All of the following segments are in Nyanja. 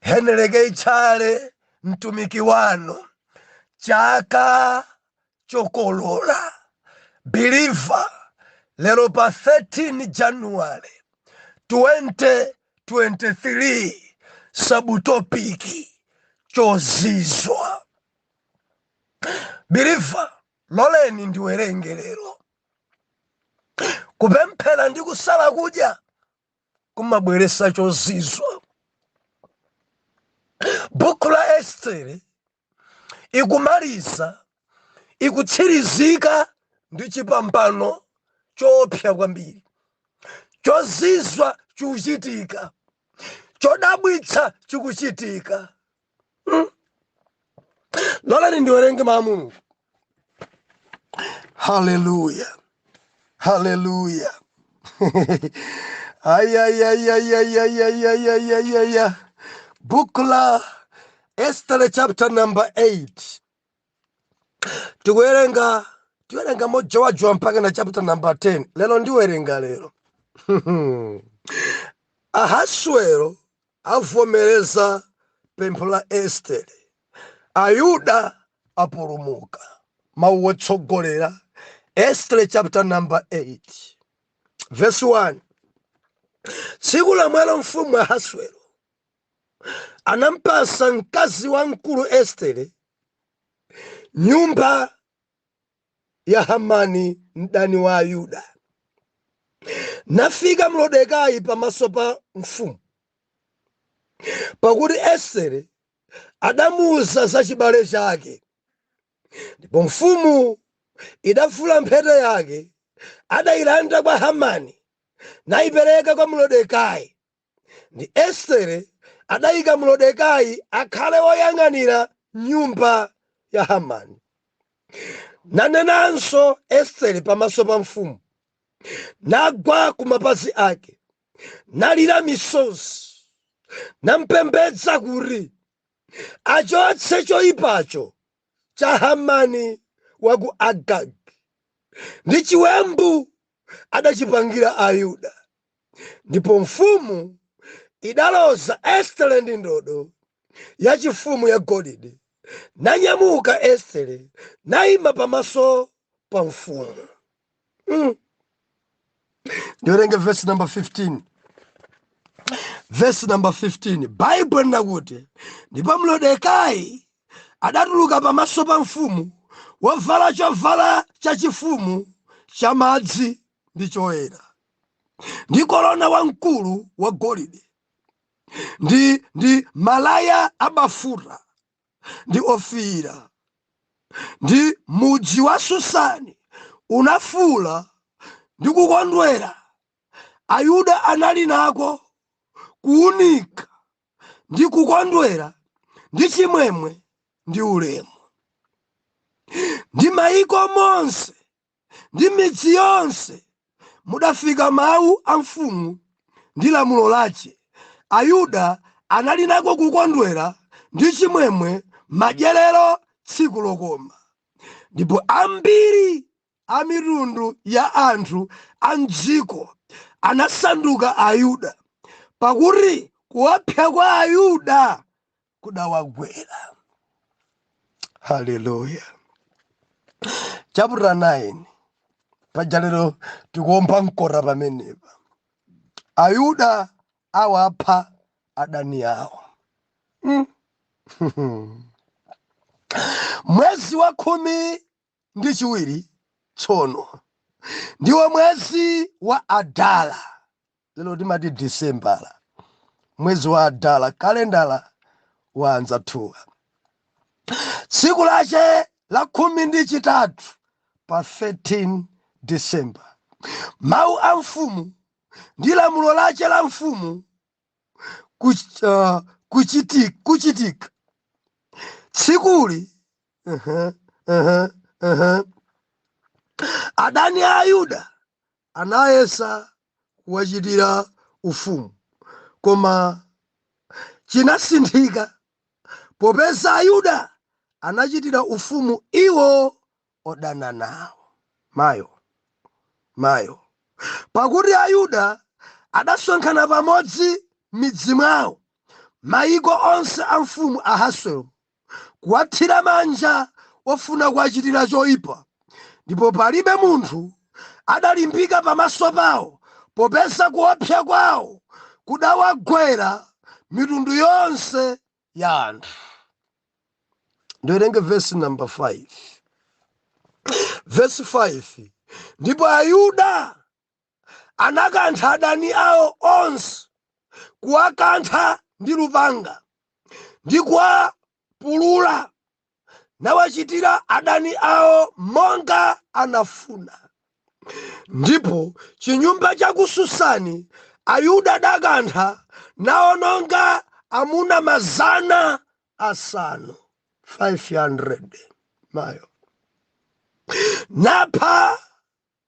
Heneleke Tchale mtumiki wanu chaka chokolola believer lero pa 13 January 2023 sabutopiki chozizwa believer loleni ndiwerenge lero kupemphera ndi kusala kudya kumabweresa chozizwa bukhu la estere ikumaliza ikutsirizika ndi chipambano choopsa kwambiri chozizwa chikuchitika chodabwitsa chikuchitika loleni ndiwerenge mawu a mulungu haleluya haleluya ayayayayayayayayaya buku la estere chapter number 8 tikuwerenga tiwerenga mojowajowa mpaka na chapter number 10 lero ndiwerenga lero ahaswero Avomereza pempho la Estere, Ayuda apulumuka, Mau otsogolera, Estere chapter number 8 verse 1 Tsiku lomwelo mfumu Ahaswero anampasa mkazi wamkulu Estere nyumba ya Hamani mdani wa Ayuda. Nafika Mrodekai pamaso pa mfumu, pakuti Estere adamuuza za chibale chake. Ndipo mfumu idavula mphete yake, adailanda kwa Hamani, naipereka kwa Mrodekai. ndi Estere adaika Mrodekai akhale woyang'anira nyumba ya Hamani. Nanenanso Estere pamaso pa mfumu, nagwa ku mapazi ake, nalira misozi, nampembedza kuti achotse choyipacho cha Hamani wa ku Agagi ndi chiwembu adachipangira Ayuda. Ndipo mfumu idaloza Estere ndi ndodo yachifumu yagolide, nanyamuka Estere naima pamaso pa mfumu. Mm. Ndiwerenge vesi namba 15 vesi namba 15 baibulo linakuti ndipo mlodekai adatuluka pamaso pa mfumu wovala chovala chachifumu chamadzi ndi choyera, ndi korona wamkulu wagolide, ndi ndi malaya abafuta ndi ofiira, ndi mudzi wa Susani unafuula ndi kukondwera, Ayuda anali nako kuunika. ndi kukondwera ndi chimwemwe ndi ulemu ndi m'maiko monse ndi m'midzi yonse mudafika mawu a mfumu ndi lamulo lace ayuda anali nako kukondwera ndi chimwemwe madyerero tsiku lokoma ndipo ambiri a mitundu ya anthu a m'dziko anasanduka Ayuda, pakuti kuopsa kwa Ayuda kudawagwera. Haleluya. Chapter 9 paja lero tikuomba mkota pamenepa ayuda awapha adani awo mm. mwezi wa khumi ndi chiwiri tsono ndiwo mwezi wa adala lero timati disembala mwezi wa adala kalendala wa anzathuwa tsiku lace la khumi ndi chitatu pa 13 december mawu a mfumu ndi lamulo lace la mfumu kuch- ah, kuchiti- kuchitika tsikuli Aha, aha, aha. adani a ayuda anayesa kuwachitira ufumu koma chinasinthika popeza ayuda anachitira ufumu iwo odana nawo. Mayo! Mayo! Pakuti Ayuda adasonkhana pamodzi m'midzi mwawo, maiko onse a mfumu Ahaswero, kuwathira manja ofuna kuwachitira choipa, ndipo palibe munthu adalimbika pamaso pawo, popeza kuopsa kwao kudawagwera mitundu yonse ya anthu ndiwerenge vesi namba 5 vesi 5 ndipo ayuda anakantha adani awo onse kuwakantha ndi lupanga ndi kuwapulula nawachitira adani awo monga anafuna. Ndipo m'chinyumba cha ku Susani Ayuda adakantha naononga amuna mazana asanu 500 mayo napha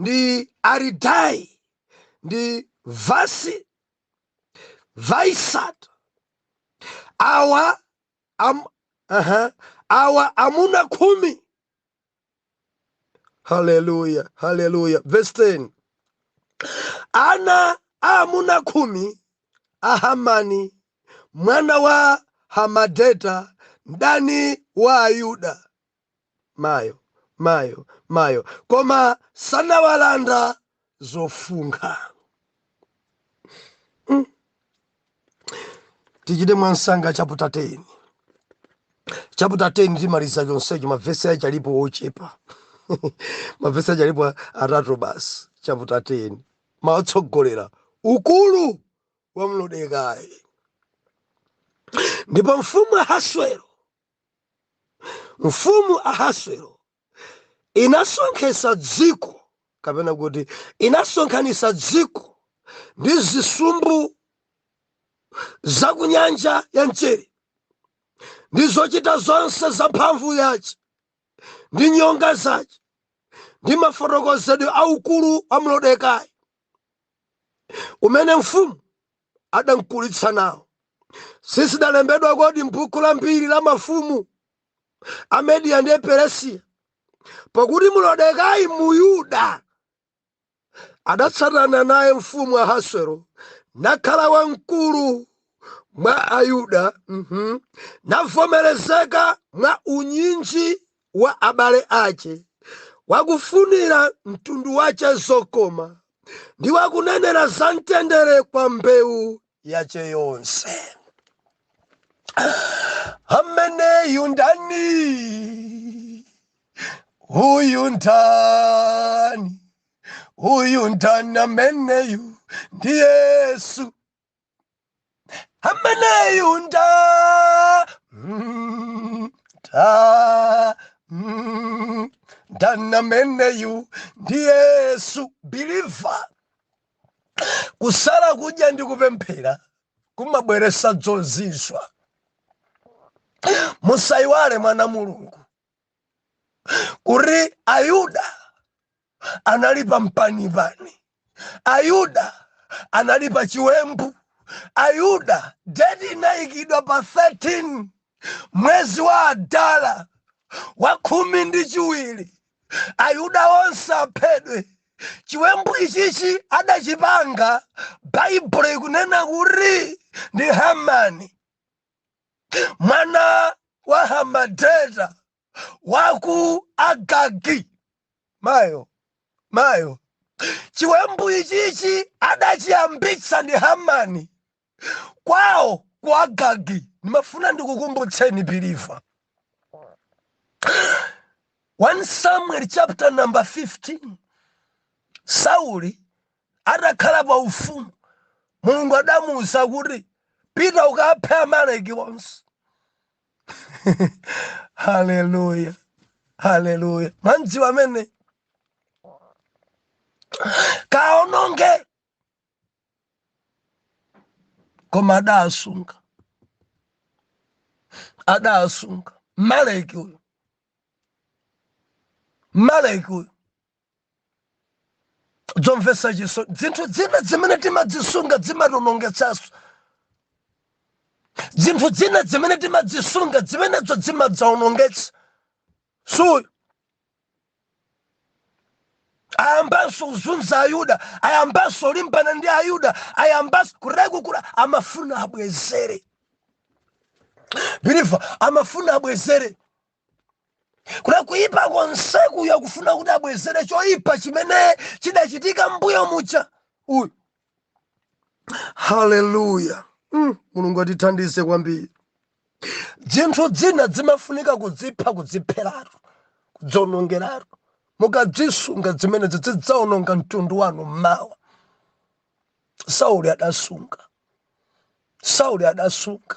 ndi Aridai ndi Vasi Vaisat awa am, aha, awa amuna khumi haleluya haleluya verse 10 ana a amuna khumi a hamani mwana wa hamadeta mdani wa ayuda mayo mayo mayo koma sanawalanda zofunkha mm. tichite mwamsanga chaputa 10 chaputa 10 timaliza chonsecho mavesi ache alipo ochepa mavesi ache alipo atatu basi chaputa 10 mawu otsogolera ukulu wa Moredekai ndipo mfumu ahaswero Mfumu Ahaswero inasonkhetsa dziko, kapena kuti inasonkhanitsa dziko ndi zisumbu za ku nyanja ya mchere ndi zochita zonse za mphamvu yace ndi nyonga zace ndi mafotokozedwe a ukulu wa Moredekai umene mfumu adamkulitsa nawo. Sizidalembedwa kodi m'buku la mbiri la mafumu a Mediya ndi Peresiya? Pakuti Moredekai Muyuda adatsatana naye mfumu Ahaswero nakhala wamkulu mwa Ayuda, mhm, navomerezeka mwa unyinji wa abale ace, wakufunira mtundu wace zokoma, ndi wakunenera za mtendere kwa mbeu yace yonse. Ameneyu ndani? Uyu ndani? Uyu ndani ameneyu? Ndi Yesu. ameneyu nda mm, ta mm, ndani ameneyu ndi yesu biliva kusala kudya ndi kupemphera kumabweretsa zozizwa musayiwale mwana wa Mulungu kuti ayuda anali pa mpanipani ayuda anali pa chiwembu ayuda date inayikidwa pa 13 mwezi wa Adara wa khumi ndi chiwiri ayuda onse aphedwe chiwembu ichichi adachipanga baibulo ikunena kuti ndi hamani mwana wa hamadeta wa ku agagi mayo mayo chiwembu ichichi adachiyambitsa ndi hamani kwawo ku agagi ndimafuna ndikukumbutseni believer 1 samuel chapter number 15 sauli Atakhala pa ufumu, Mulungu adamuuza kuti, Pita ukaphe Amaleki onse. Haleluya. Haleluya. Mwamdziwa mmene kaononge koma adasunga adasunga Mmaleki uyo Mmaleki uyo dzomvetsa chisoni dzinthu dzina dzimene timadzisunga dzimationongetsanso dzinthu dzina dzimene timadzisunga dzimenedzo dzimadzaonongetsa so ayambanso kuzunza ayuda ayambanso kulimbana ndi ayuda ayambanso kurekukula amafuna abwezere believer amafuna abwezere kuna kuyipa konseku iyo akufuna kuti abwezere choyipa chimene chidachitika mbuyo muja uyu haleluya mm, mulungu atithandize kwambiri dzinthu dzina dzimafunika kudzipha kudzipheratu kudzionongeratu mukadzisunga dzimenezi dzidzaononga mtundu wanu mmawa sauli adasunga sauli adasunga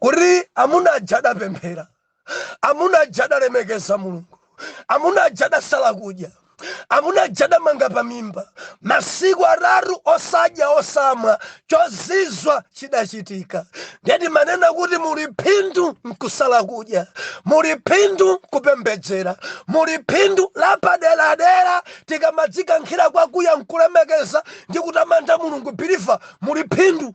kuti amuna aja adapemphera amuna aja adalemekeza mulungu amuna aja adasala kudya amuna aja adamanga pamimba masiku atatu osadya osamwa chozizwa chidachitika nde timanena kuti muli phindu mkusala kudya muli phindu mkupembedzera muli phindu lapaderadera tikamadzikankhira kwakuya mkulemekeza ndi kutamanda mulungu believer muli phindu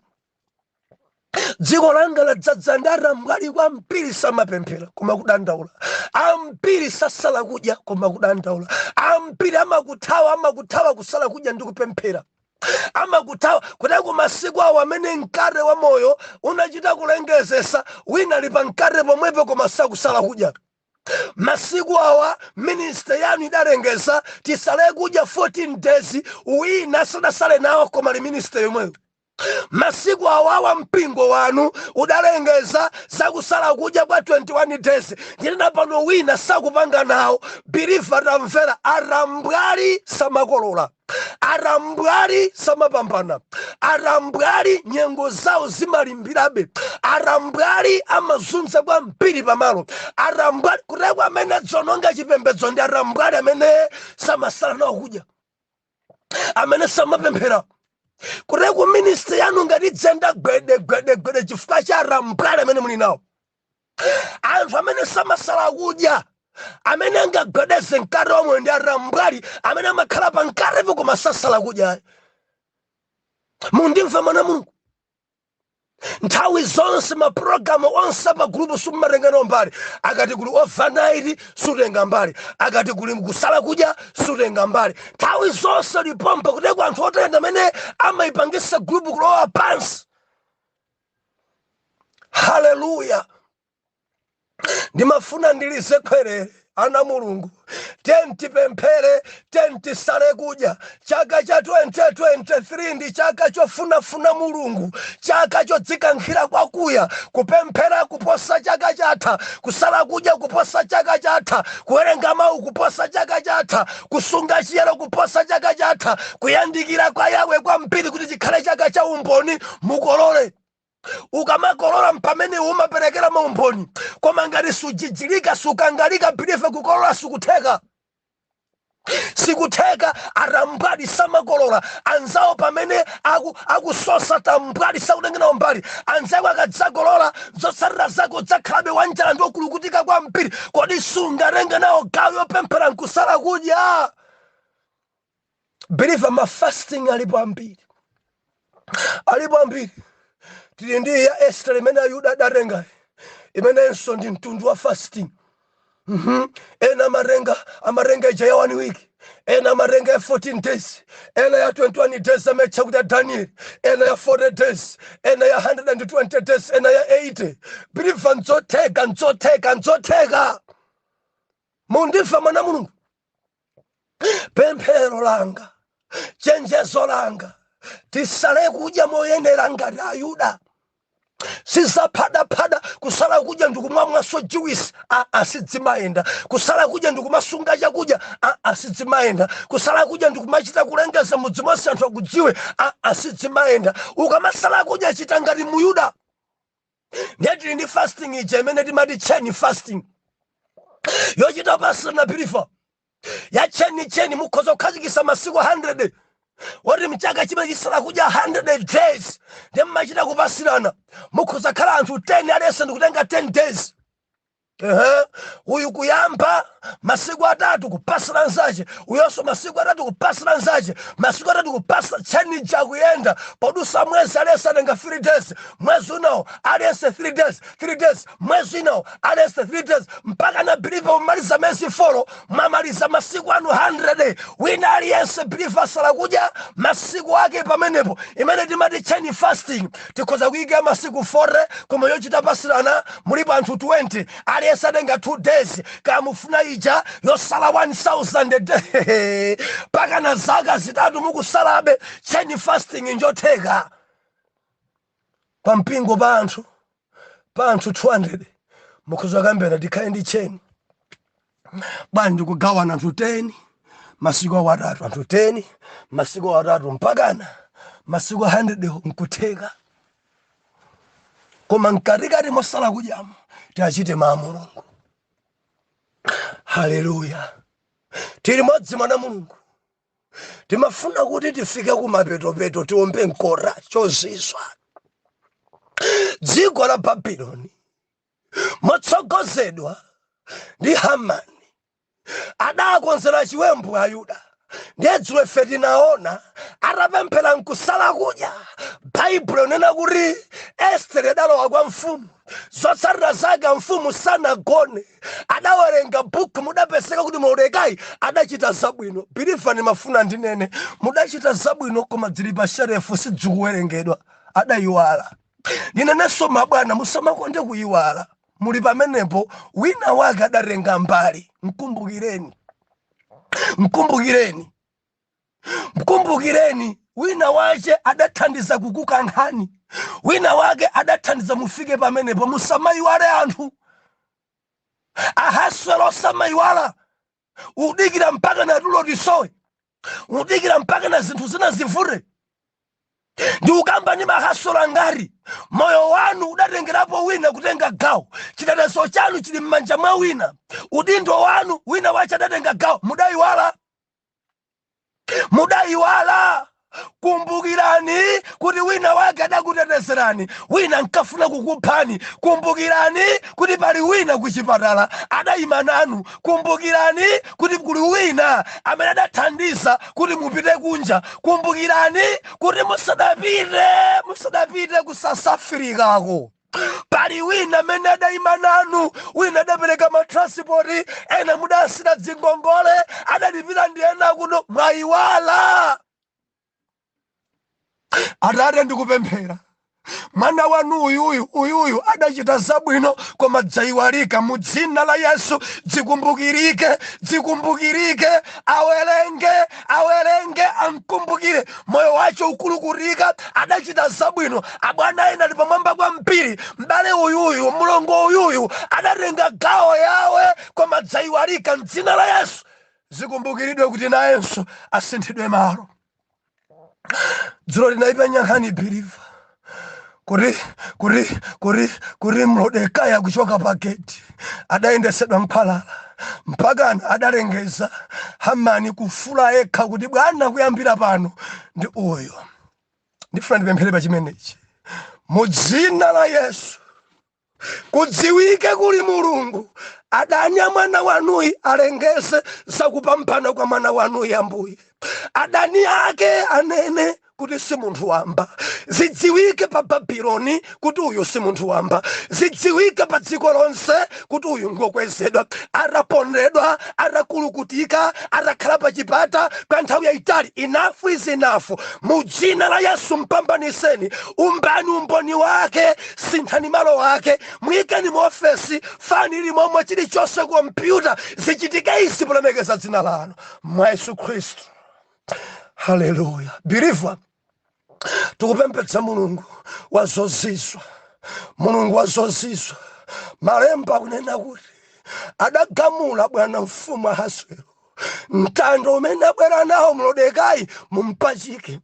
dziko langa ladzadza ndi atambwali kwambiri samapemphera koma kudandaula ambiri sasala kudya koma kudandaula ambiri amakuthawa amakuthawa kusala kudya ndi kupemphera amakuthawa kuti komasiku awa amene mkate wa moyo unachita kulengezesa wina ali pa mkate pomwepo koma sakusala kudya masiku awa ministry yanu idalengeza tisale kudya 14 days wina sadasale nawo koma ali ministry yomweyo Masiku awawa mpingo wanu udalengeza za kusala kudya kwa 21 days ndinena pano wina sakupanga nawo believer tamvera atambwali samakolola atambwali samapambana atambwali nyengo zawo zimalimbirabe atambwali amazunza kwambiri pamalo atambwali kuteko amene adzononga chipembedzo ndi atambwali amene samasala nawo kudya amene samapemphera kuteko ministry yanu ngati idzenda gwede gwede gwede chifukwa cha atambwali amene muli nawo anthu amene samasala kudya amene angagwedeze mkate omwe ndi atambwali amene amakhala pa mkatepo koma sasala kudya mundimva mwana mulungu nthawi zonse mapulogalamu onse a pa gulupu sumatenga nawo mbali akati kuli overnight sutenga mbali akati kuli kusala kudya sutenga mbali nthawi zonse uli pompa kuteko anthu ote ndi amene amayipangisa gulupu kulowa pansi haleluya ndimafuna ndilize khwerere ana mulungu tiyeni tipemphere tiyeni tisale kudya chaka cha 2023 ndi chaka chofunafuna mulungu chaka chodzikankhira kwakuya kupemphera kuposa chaka chatha kusala kudya kuposa chaka chatha kuwerenga mawu kuposa chaka chatha kusunga chiyero kuposa chaka chatha kuyandikira kwa yawe kwambiri kuti chikhale chaka cha umboni mukolole ukamakolola mpamene umaperekera maumboni koma ngati sujijirika sukangalika believer kukolola sikutheka sikutheka atambwali samakolola anzawo pamene aku- akusosa tambwali sakutenga nawo mbali anzako akadzakolola zotsatira zako udzakhalabe wanjala ndi okulukutika kwambiri kodi sungatenge nawo gawo yopemphera nkusala kudya believer ma fasting alipo ambiri alipo ambiri tili ndi ya Esther imene Ayuda adatenga imenenso ndi mtundu wa fasting ena amatenga amatenga ija ya one week ena amatenga ya 14 days ena ya 21 days amaitcha kuti ya danieli ena ya 40 days ena ya 120 days ena ya 80 believer nzotheka nzotheka nzotheka mundimva mwana mulungu pemphero langa chenjezo langa tisale kudya moyenera ngati ayuda si za phadaphada kusala kudya ndikumamwanso juwisi aa sidzimayenda kusala kudya ndikumasunga chakudya aa sidzimayenda kusala kudya ndikumachita kulengeza mudzi monse anthu akudziwe aa sidzimayenda ukamasala kudya chita ngati muyuda ndiye tili ndi fasting ija imene timati chain fasting yochita pasirana biliva ya chain chain mukhoza kukhazikisa masiku 100 oti mchaka chimenechi sala kudya 100 days ndi mmachita kupasirana mukhoza khala anthu 10 aliyense ndikutenga 10 days Ehe, uyu kuyamba masiku atatu kupasira nzache uyonso masiku atatu kupasira nzache masiku atatu kupasa chain ija ikuyenda podutsa mwezi aliyense atenga 3 days mwezi winawo aliyense 3 days 3 days mwezi winawo aliyense 3 days mpakana biliva umaliza miyezi folo mwamaliza masiku anu 100 wina aliyense biliva asala kudya masiku ake pamenepo imene timati chain fasting tikhoza kuika ya masiku 40 koma yochita pasirana mulipo anthu 20 aliyense atenga 2 days kaya mufuna ija yosala 1000 days mpakana zaka zitatu mukusalabe chain fasting njotheka pa mpingo pa anthu pa anthu 200 mukhoza kuyambira tikhale ndi chain bwana ndikugawana anthu 10 masiku awo atatu anthu 10 masiku awo atatu mpakana masiku 100 nkutheka koma mkatikati mosala kudyamo tiachite mau a mulungu haleluya tili limodzi mwana mulungu timafuna kuti tifike kumapetopeto tiombe mkota chozizwa dziko la babiloni motsogozedwa ndi Hamani, adakonzera chiwembu Ayuda. Ndiye dzulo ife tinaona atapemphera nkusala kudya. Baibulo linena kuti Estere adalowa kwa mfumu, zotsatira zake mfumu sanagone, adawerenga buku, mudapezeka kuti Mordekai adachita zabwino. Biliva ndimafuna ndinene, mudachita zabwino koma dzili pa sherefu sidzikuwerengedwa, adayiwala. Ninenenso mabwana musamakonde kuyiwala muli pamenepo wina wake adatenga mbali mkumbukireni mkumbukireni mkumbukireni wina wache adathandiza kukukankhani wina wake adathandiza mufike pamenepo musamayiwale anthu ahaswero osamayiwala udikira mpakana tulo tisowe udikira mpakana zinthu zina zivute ndikukamba ndi mahaswero ngari moyo wanu udatengerapo wina kutenga gawo chitetezo chanu chili m'manja mwa wina udindo wanu wina wache adatenga gawo mudayiwala mudayiwala kumbukirani kuti wina wake adakutetezerani wina ankafuna kukuphani kumbukirani kuti pali wina kuchipatala adayima nanu kumbukirani kuti kuli wina amene adathandiza kuti mupite kunja kumbukirani kuti musadapite musadapite ku south africako pali wina amene adayima nanu wina adapereka matranspoti ena mudasiya dzingongole adalipira ndi ena kuno mwayiwala atate ndikupemphera mwana wanu uyuyu uyuyu adachita zabwino koma dzayiwalika mu dzina la yesu dzikumbukirike dzikumbukirike awerenge awerenge amkumbukire moyo wake ukulukutika adachita zabwino abwana ena ali pamwamba kwa mpiri m'bale uyuyu mlongo uyuyu adatenga gawo yawe koma dzaiwalika mdzina la yesu zikumbukiridwe kuti nayenso asinthidwe malo dzulo linaipa nyankhani believer kuti kuti kuti kuti mlodekaya kuchoka pageti adayendesedwa m'khwalala mpakana adalengeza hamani kufuula yekha kuti bwana kuyambira pano ndi uyo ndifuna ndipemphere pa chimenechi mu dzina la yesu kudziwike kuli mulungu adani a mwana wanuyi alengeze za kupambana kwa mwana wanuyi ambuye adani ake anene kuti si munthu wamba zidziwike pa babiloni kuti uyu si munthu wamba zidziwike pa dziko lonse kuti uyu ngokwezedwa atapondedwa atakulukutika atakhala pa chipata kwa nthawi yayitali enough is enough mu dzina la yesu mpambaniseni umbani umboni wake sinthani malo ake muyikeni mu ofesi fan ili momwe chilichonse kompyuta zichitike izi polemekeza dzina lanu mwa yesu khristu haleluya believer tikupembedza mulungu wa zozizwa mulungu wa zozizwa malemba akunena kuti adagamula bwana mfumu ahaswero mtanda umene abwera nawo mlodekayi mumpachike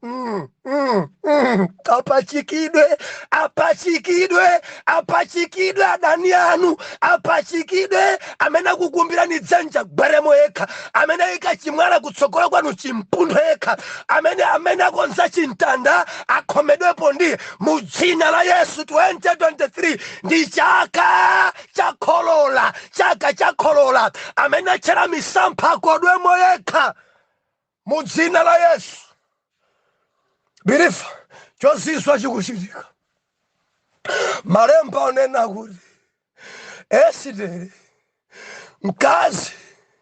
apachikidwe apachikidwe apachikidwe adani anu apachikidwe amene akukumbirani dzenje agweremo yekha amene ayika chimwala kutsogolo kwanu chimpunthe yekha amene amene akonza chimtanda akhomedwepo ndiye mu dzina la yesu 2023 ndi chaka chokolola chaka chokolola amene atchera misampha akodwemo yekha mu dzina la yesu believer chozizwa chikuchitika malemba akunena kuti esitere mkazi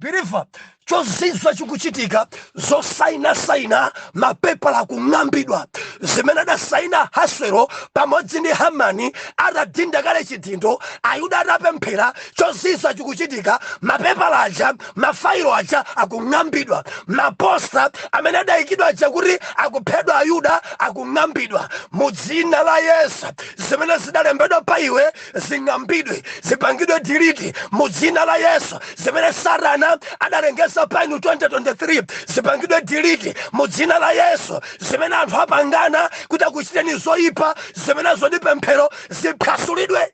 believer chozizwa chikuchitika zosainasaina mapepala akung'ambidwa zimene adasaina Ahaswero pamodzi ndi hamani atadinda kale chidindo ayuda atapemphera chozizwa chikuchitika mapepala aja mafailo aja akung'ambidwa maposta amene adayikidwa aja kuti akuphedwa ayuda akung'ambidwa mu dzina la yesu zimene zidalembedwa pa iwe zing'ambidwe zipangidwe delete mu dzina la yesu zimene satana adalengeza pa inu 2023 zipangidwe delete mu dzina la yesu zimene anthu apangana kuti akuchiteni zoyipa zimenezo ndi pemphero ziphwasulidwe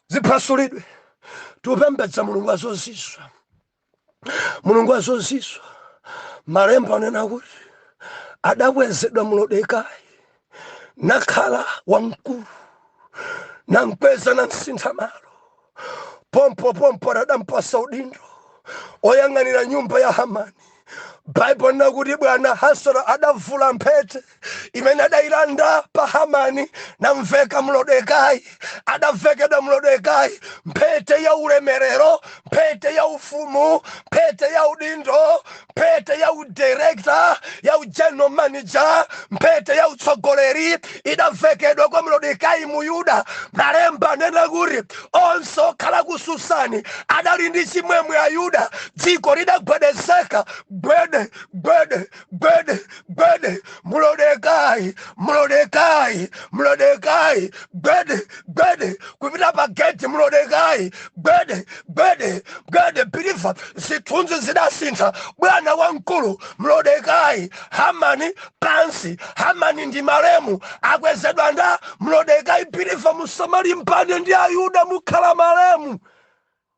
ziphwasulidwe tupembedza mulungu wazozizwa mulungu wazozizwa malemba anena kuti adakwezedwa Modekai nakhala wamkulu namkweza namsintha malo pompo pompo adampatsa udindo oyang'anira nyumba ya hamani baibulo linena kuti bwana Ahaswero adavula mphete imene adailanda pa hamani namveka Modekai adavekedwa Modekai mphete ya ulemerero mphete ya ufumu mphete ya udindo mphete ya udirekta ya ugeneral manager mphete ya utsogoleri idavekedwa kwa Modekai muyuda malemba anena kuti onse okhala ku susani adali ndi chimwemwe ayuda dziko lidagwedezeka gwede gwede Gwede, gwede, mulodekai, mulodekai, mulodekai, gwede, gwede, kupita pa geti mulodekai, gwede, gwede, gwede, pilifa, zithunzi zidasintha, bwana wamkulu, mulodekai, hamani, pansi, hamani ndi malemu, akwezedwa nda, mulodekai, pilifa, musamalimbane ndi ayuda, mukhala malemu.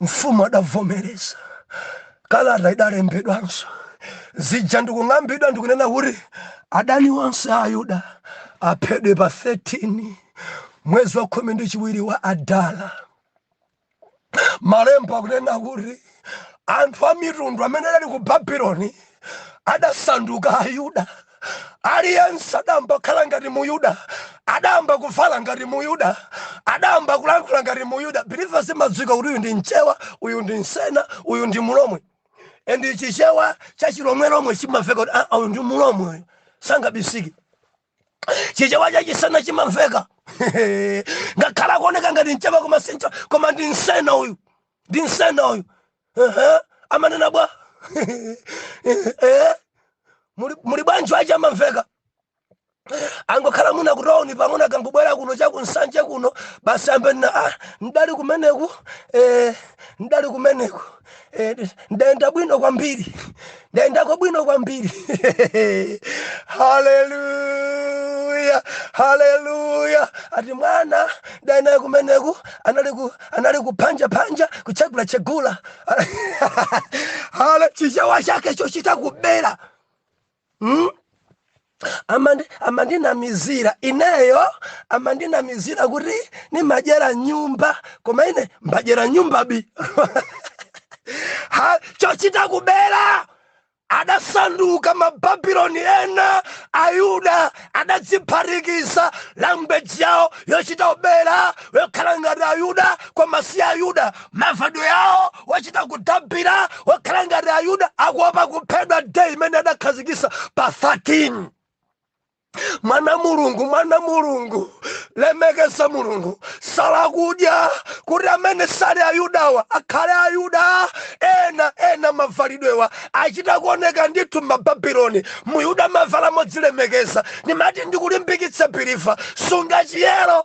Mfumu adavomereza. Kalata idalembedwanso zija ndikung'ambidwa ndikunena kuti adani onse a Ayuda aphedwe pa 13 mwezi wa khumi ndi chiwiri wa Adara. Malemba akunena kuti anthu a mitundu amene adali ku Babuloni adasanduka Ayuda. aliyense adayamba kukhala ngati muyuda adayamba kuvala ngati muyuda adayamba kulankhula ngati muyuda believers imadziwika kuti uyu ndi mchewa uyu ndi msena uyu ndi mulomwe and chichewa cha chilomwelomwe chimamveka kuti "Ah, uyu ndi mulomwe uyu sangabisike chichewa cha chisena chimamveka ngakhale akuoneka ngati mchewa koma sincho koma ndi msena uyu ndi msena uyu Ehe, amanena bwa Ehe, muli muli bwanji aja amamveka akangokhala muno kutawuni pang'ono akangobwera kuno chakunsanje kuno basi ambenena ah, ndali kumeneku eh, ndali kumeneku eh, ndayenda bwino kwambiri ndayendako bwino kwambiri haleluya haleluya ati mwana ndayenda kumeneku anali ku- anali kuphanja phanja kuchegula chegula hale chichewa chake chochita kubera mm? Amandi, amandinamizira ineyo, amandinamizira kuti nimadyera mnyumba, koma ine mbadyera mnyumba bi ha chochita kubera adasanduka mababiloni ena ayuda adadziphatikiza language yawo yochita kubera yokhala ngati ayuda koma si ayuda mavalidwe awo wachita kudabira wokhala ngati ayuda akuopa kuphedwa day imene adakhazikisa pa 13 mwana mulungu mwana mulungu lemekeza mulungu sala kudya kuti amene sali ayudawa akhale ayuda ena ena mavalidwewa achita kuoneka ndithu mababiloni muyuda amavala modzilemekeza ndimati ndikulimbikitse believer sunga chiyero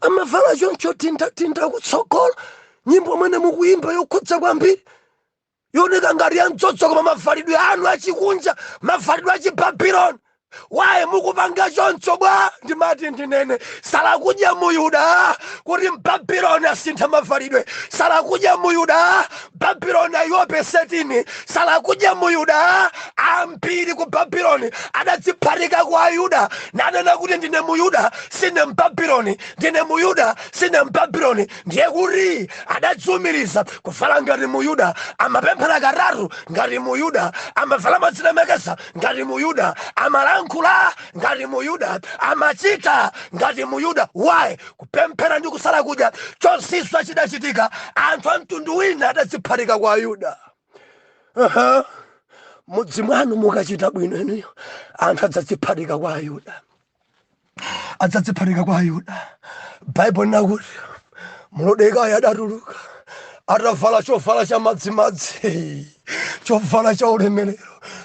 amavala choncho tindatinda kutsogola nyimbo imene mukuyimba yokhudza kwambiri yooneka ngati ya mdzozo koma mavalidwe anu achikunja mavalidwe achibabiloni why mukupanga choncho bwa ndimati ndinene salakudya muyuda kuti mbabiloni asintha mavalidwe salakudya muyuda Babiloni aiwope setini salakudya mu Yuda ambiri ku Babiloni adadziphatika kwa Ayuda nanena kuti ndine mu Yuda sine mbabiloni ndine mu Yuda sine mbabiloni ndiye kuti adadziumiriza kuvala ngati mu Yuda amapemphera katatu ngati mu Yuda amavala modzilemekeza ngati mu Yuda amalankhula ngati mu Yuda amachita ngati mu Yuda why kupemphera ndi kusala kudya chozizwa chidachitika anthu a mtundu wina adadziphatika kwa ayuda uh -huh. m'mudzi mwanu mukachita bwino inuyo anthu adzadziphatika kwa ayuda adzadziphatika kwa ayuda baibulo linakuti mulodekayi adatuluka atavala chovala cha madzimadzi chovala cha ulemerero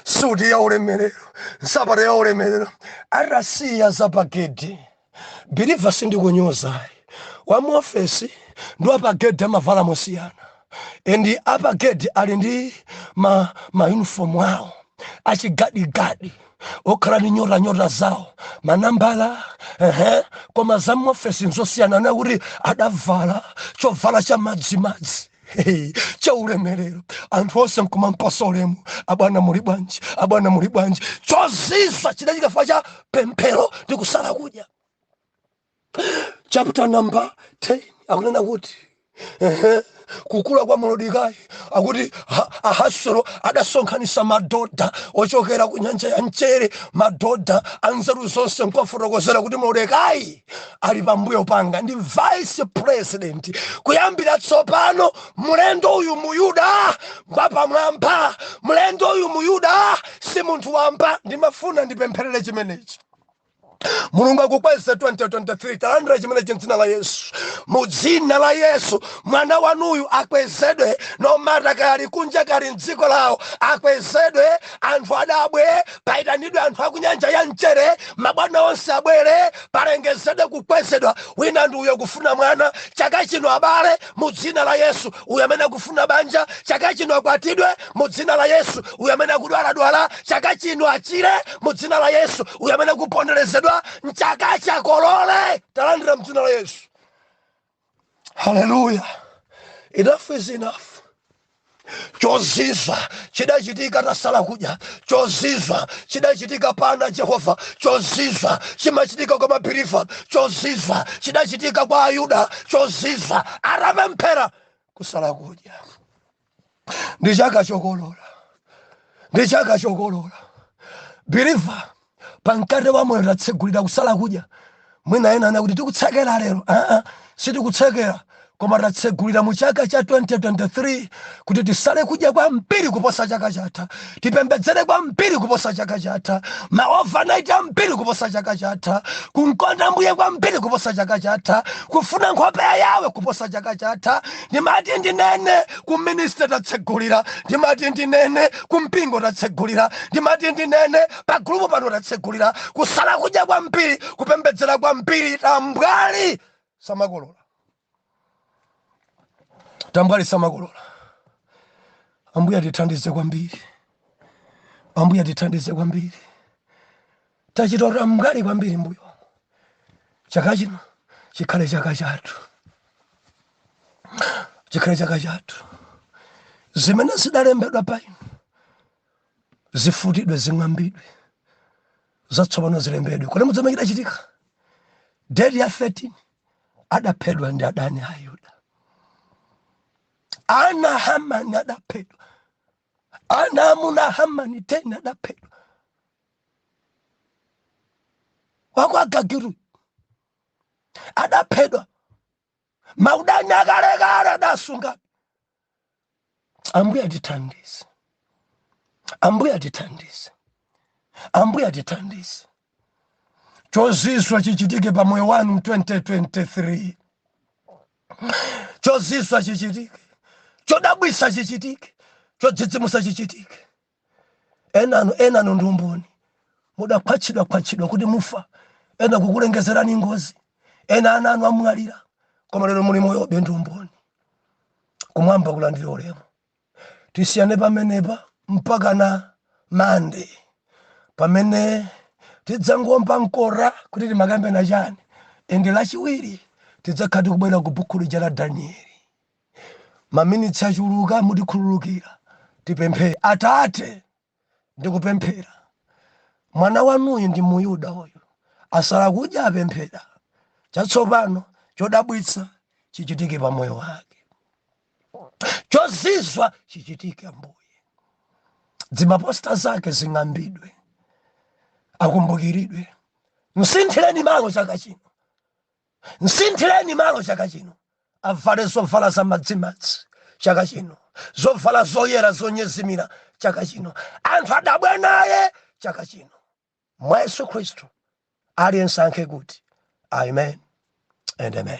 suti ya ulemerero nsapato ya ulemerero atasiya zapagedi Believer sindikunyoza ayi. Wa mu office ndi a pa gate amavala mosiyana. And a pa gate ali ndi ma ma uniform awo achigadigadi okhala ndi nyota nyota zawo manambala ehe koma za mu office nzosiyana nakuti adavala chovala cha madzimadzi Hey, cha ulemerero anthu onse nkumampasa ulemu abwana muli bwanji abwana muli bwanji chozizwa chidachitika chifukwa cha pemphero ndi kusala kudya chapter number 10 akunena kuti ehe, kukula kwa Morodekayi akuti ha- Ahaswero adasonkhanitsa madoda ochokera ku nyanja ya mchere madoda anzeru zonse nkuwafotokozera kuti Morodekayi ali pambuyo panga ndi vice president kuyambira tsopano mlendo uyu muyuda ngwapamwamba mlendo uyu muyuda si munthu wamba ndimafuna ndipempherere chimenechi mulungu akukweze 2023 talandira chimenechi mdzina la yesu mu dzina la yesu mwana wanuyu akwezedwe no matter kali kunja kali mdziko lawo akwezedwe anthu adabwe paitanidwe anthu akunyanja yamchere mabwana onse abwere palengezedwe kukwezedwa wina ndi uyo kufuna mwana chaka chino abale mu dzina la yesu uyo amene akufuna banja chaka chino akwatidwe mu dzina la yesu uyo amene akudwaladwala chaka chino achire mu dzina la yesu uyo amene akuponderezedwa mchaka chakolole talandira mdzina la yesu haleluya enough is enough choziza chidachitika tasala kudya choziza chidachitika pana jehova choziza chimachitika kwa mabhirifa choziza chidachitika kwa ayuda choziza aramemphera kusala kudya ndi chaka chokolola ndi chaka chokolola believer pa mkate wa moyo tatsegulira kusala kudya mwina ena ana kuti tikutsekera lero aa sitikutsekera koma tatsegulira mu chaka cha 2023 kuti tisale kudya kwambiri kuposa chaka chatha tipembedzere kwambiri kuposa chaka chatha ma overnight ambiri kuposa chaka chatha kumkonda mbuye kwambiri kuposa chaka chatha kufuna nkhope ya yawe kuposa chaka chatha ndimati ndinene ku ministry tatsegulira ndimati ndinene kumpingo tatsegulira ndimati ndinene pa gulupu pano tatsegulira kusala kudya kwambiri kupembedzera kwambiri tambwali samakolola tambwali samakolola ambuye atithandize kwambiri ambuye atithandize kwambiri tachita tambwali kwambiri mbuyo chaka chino chikhale chaka chathu chikhale chaka chathu zimene zidalembedwa pa inu zifutidwe zing'ambidwe zatsopano zilembedwe kodi mudziwa chimene chidachitika date ya 13 adaphedwa ndi adani a Ayuda. Ana a Hamani adaphedwa, ana amuna a Hamani teni adaphedwa. Wakwa Agagiyu adaphedwa, maudani akalekale adasunga ambuye atithandize ambuye atithandize ambuye atithandize chozizwa chichitike pa moyo wanu 2023 chozizwa chichitike chodabwisa chichitike chodzidzimusa chichitike enanu enanu ndi umboni mudakhwatchidwa khwatchidwa kuti mufa ena kukulengezerani ngozi ena ana anu amwalira koma lero muli moyobe ndi umboni kumwamba kulandire ulemu tisiyane pamenepa mpaka na mande pamene tidzangomba mkora kuti timakambirana chani ende lachiwiri tidzakhala tikubwera ku buku lija la danieli Maminitsi achuluka, mutikhululukira. Tipemphere. Atate, ndikupemphera. Mwana wanuyu ndi Muyuda uyu asala kudya, apemphera. Chatsopano, chodabwitsa chichitike pa moyo wake, chozizwa chichitike, Ambuye. Zimaposta zake zing'ambidwe, akumbukiridwe. Msinthireni malo chaka chino, Msinthireni malo chaka chino, avale zovala za madzimadzi chaka chino, zovala zoyera zonyezimira chaka chino, anthu adabwe naye chaka chino. Mwa Yesu Khristu, aliyense ayankhe kuti amen and amen.